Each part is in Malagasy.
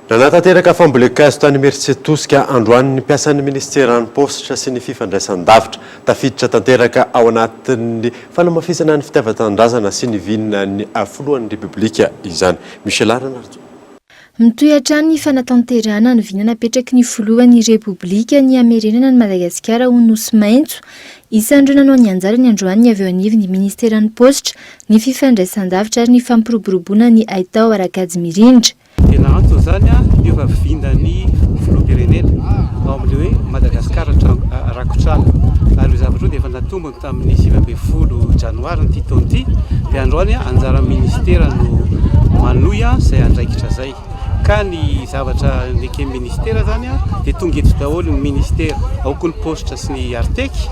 Nanatanteraka fambolen-kazo tany Imeritsiatosika androany ny mpiasan'ny minisiteran'ny Paositra sy ny fifandraisan-davitra. Tafiditra tanteraka ao anatin'ny fanamafisana ny fitiavan-tanindrazana sy ny vinan'ny filohan'ny Repoblika izany. Michel Ara na Rajoelina. Mitohy hatrany ny fanatanterahana ny vina napetraky ny filohan'ny Repoblika ny hamerenana an'i Madagasikara ho Nosy maitso. Isan'ireo nanao ny anjarany androany ny avy eo anivon'ny Ministeran'ny Paositra, ny Fifandraisandavitra ary ny Fampiroboroboana ny Haitao ara-kajy mirindra. Tena antony izany hiova vinan'ny Filoham-pirenena ao amin'ilay hoe Madagasikara rakotr'ala. Ary ireo zavatra ireo dia efa natombony. Tamin'ny sivy ambin'ny folo janoarin'ity taona ity dia androany anjaran'ny ministera no manohy izay andraikitra izay ka ny zavatra neken'ny ministera izany dia tonga eto daholo ny ministera ao koa ny postra sy ny arteky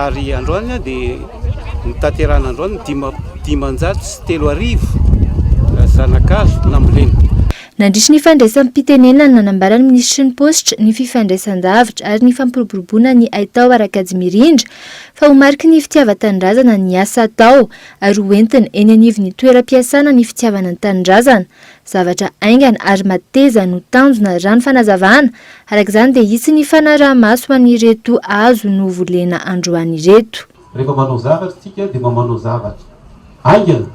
ary androany dia nitaterana androany ny dimanjato sy telo arivo zanakazo nambolena. Nandritry ny fandraisam-pitenenany, nanambara ny minisitry ny Paositra, ny Fifandraisan-javatra ary ny Fampiroboroboana ny haitao ara-kajimirindra fa ho mariky ny fitiavan-tanindrazana ny asa atao ary ho entina eny anivon'ny toeram-piasana ny fitiavana ny tanindrazana. Zavatra haingana ary mateza no tanjona raha ny fanazavana, araka izany dia hisy ny fanaraha-maso ho an'ireto hazo novolena androany ireto. Rehefa manao zavatra tsika dia mamanao zavatra haingana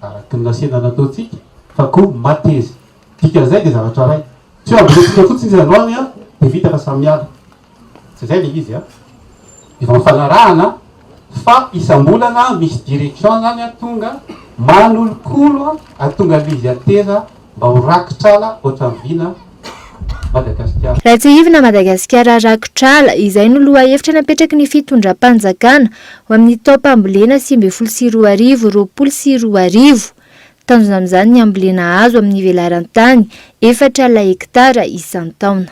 araky ny nasehana nataontsika fa ko matezy dikan'izay dia zavatra ray tsy ho ambolentsika fotsiny izy androany an dia vita fa samy miala tsy izay ilay izy an efa mifanarahana fa isambolana misy direction zany an tonga manolokolo an tonga levy ateza Mba ho rakitr'ala ohatran'i Vina Madagasikara. Ratsihivina Madagasikara rakotr'ala, izay no lohahevitra napetraky ny fitondram-panjakana ho amin'ny taom-pambolena sivy ambin'ny folo sy roa arivo, roapolo sy roa arivo. Tanjona amin'izany ny hambolena hazo amin'ny velaran-tany efatra laektara isan-taona.